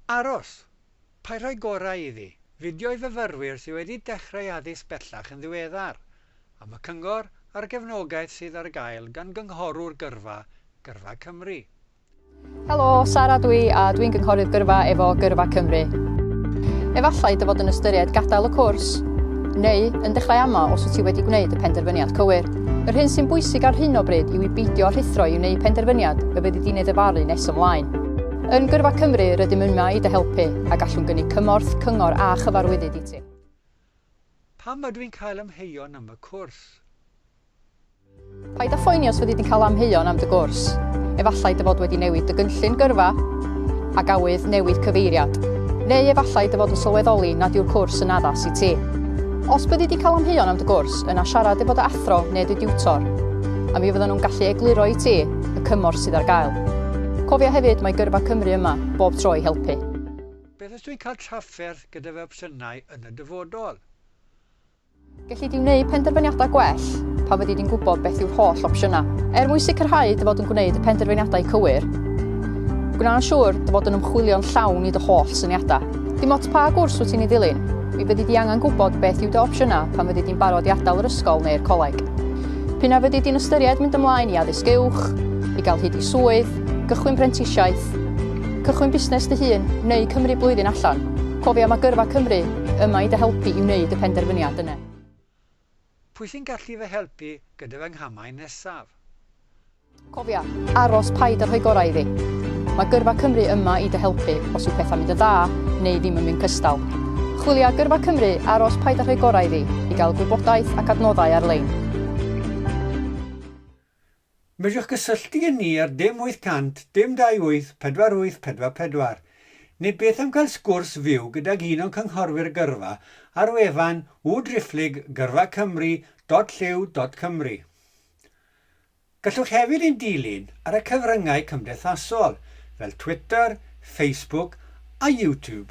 Aros! Paid rhoi gorau iddi. Fideo i fyfyrwyr sydd wedi dechrau addysg bellach yn ddiweddar, am y cyngor a'r gefnogaeth sydd ar gael gan Gynghorwr Gyrfa, Gyrfa Cymru. Helo, Sara dw i a dwi'n Gynghorydd Gyrfa efo Gyrfa Cymru. Efallai dy fod yn ystyried gadael y cwrs? Neu yn dechrau amau os wyt ti wedi gwneud y penderfyniad cywir? Yr hyn sy'n bwysig ar hyn o bryd yw i beidio â rhuthro i wneud penderfyniad y bydd y dyn ei ddyfalu nes ymlaen. Yn Gyrfa Cymru, rydym yma i dy helpu, a gallwn gynnig cymorth, cyngor a chyfarwyddyd i ti. Pam ydw i'n cael amheuon am fy cwrs? Paid â phoeni os fyddi di'n cael amheuon am dy gwrs. Efallai dy fod wedi newid dy gynllun gyrfa ac awydd newid cyfeiriad. Neu efallai dy fod yn sylweddoli nad yw'r cwrs yn addas i ti. Os byddi di'n cael amheuon am dy gwrs, Yna siarad efo dy athro neu dy diwtor, a mi fyddan nhw'n gallu egluro i ti y cymorth sydd ar gael. Cofia hefyd, mae Gyrfa Cymru yma bob tro i helpu. Beth os dwi'n cael trafferth gyda fy opsiynau yn y dyfodol? Gelli di wneud penderfyniadau gwell pan fyddi di'n gwybod beth yw'r holl opsiynau. Er mwyn sicrhau dy fod yn gwneud y penderfyniadau cywir, gwna'n siŵr dy fod yn ymchwilio'n llawn i dy holl syniadau. Dim ots pa gwrs wyt ti'n ei ddilyn, mi fyddi di angen gwybod beth yw dy opsiynau pan fyddi di'n barod i adael yr ysgol neu'r coleg. P'un a fyddi di'n ystyried mynd ymlaen i addysg uwch, i gael hyd i swydd, gychwyn prentisiaeth, cychwyn busnes dy hun neu cymryd blwyddyn allan, cofia mae Gyrfa Cymru yma i dy helpu i wneud y penderfyniad yna. Pwy sy'n gallu fy helpu gyda fy nghamau nesaf? Cofia, aros paid a rhoi gorau iddi. Mae Gyrfa Cymru yma i dy helpu os yw pethau'n mynd yn dda neu ddim yn mynd cystal. Chwilia Gyrfa Cymru, aros paid a rhoi gorau iddi i gael gwybodaeth ac adnoddau ar-lein. Medrwch gysylltu â ni ar dim 800 dim 28 4844 neu beth am gael sgwrs fyw gydag un o'n cynghorwyr gyrfa ar wefan www.driphlyg gyrfa cymru dot llyw dot cymru. Gallwch hefyd ein dilyn ar y cyfryngau cymdeithasol fel Twitter, Facebook a YouTube.